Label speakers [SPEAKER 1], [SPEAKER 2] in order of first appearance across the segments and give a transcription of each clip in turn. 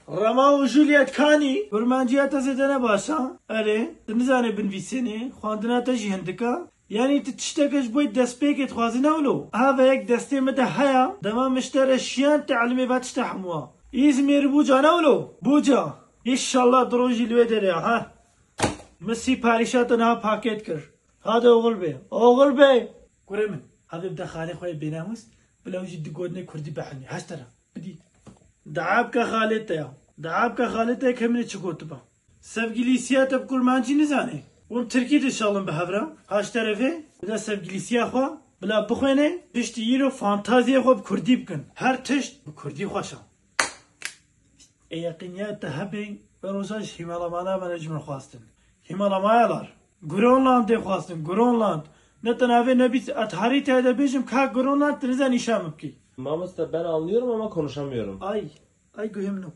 [SPEAKER 1] Rama û Juliet Kanî, Kurmanciya te zêde ne baş a? Erê, tu nizanî binvîsênê, xwendina te jî hindik a? Yanî tu tişteke ji bo destpêkê dixwazî ne wilo? A veyek destê min de heye, dema min ji te re şiyand tîlimê va tişta hemû a. Îzmîr Buca ne wilo? Buca! Îşallah di rojî li wê derê ya he. Min sîparîşa te niha pakêt kir. Hade oxil bê. Oxil bê! Kurê min, hevê bide xalê xwe yê bênamûs, bila wî jî di gotinê kurdî bihewnî. Heşt tera. Bidî. Dua bike xalê te ya. Dua bike xalê te ke min ê çi gotiba. Sevgilîsiya te bi kurmancî nizanê? Hûn tirkî dişalin bi hev re. Haşterevê, tu de sevgilîsiya xwe bila bixwêne, piştî îro fantaziyê xwe bi kurdî bikin. Her tişt bi kurdî xweş a. Ê yeqînîya te hebê, me rojan ji hîmelamana me re ji min xwestin. Hîmelamayal ar. Gronlandê xwestin, Gronland. Ne tena vê ne bîs et herî tê de bêjim kak Gronland tu nizanî nîşan min bikî. Mamoste ben anlıyorum ama konuşamıyorum. Ay, ay guhim no.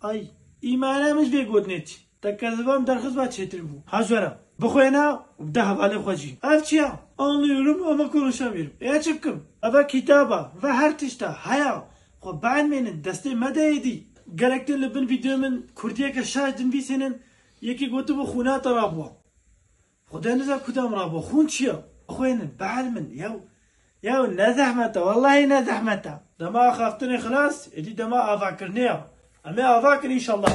[SPEAKER 1] Ay. Î mana min ji vê gotinê çi? Te ke zivan derxist va çêtir bû. Ha jwera. Bixwêne û bide hevalê xwe jî. Ev çi ya? Anlıyorum ama konuşamıyorum. Ê çi bikim? Ev e kitaba, ev e her tişt e. Heya. Xwe bienmênin, destê mede êdî. Gerek tê li bin vîdeoya min kurdiyeke şaş dinvîsênin, Yekê gotibû xûna te rabûa. Xwe de nida ku te min rabûa. Xûn çi ye? Bixwênin, bielmin. Yew. Yew, ne zehmet e. Wellahî ne zehmet e. Dema axaftinê xilas, êdî dema avakirinê ye. Em ê ava kin înşellah.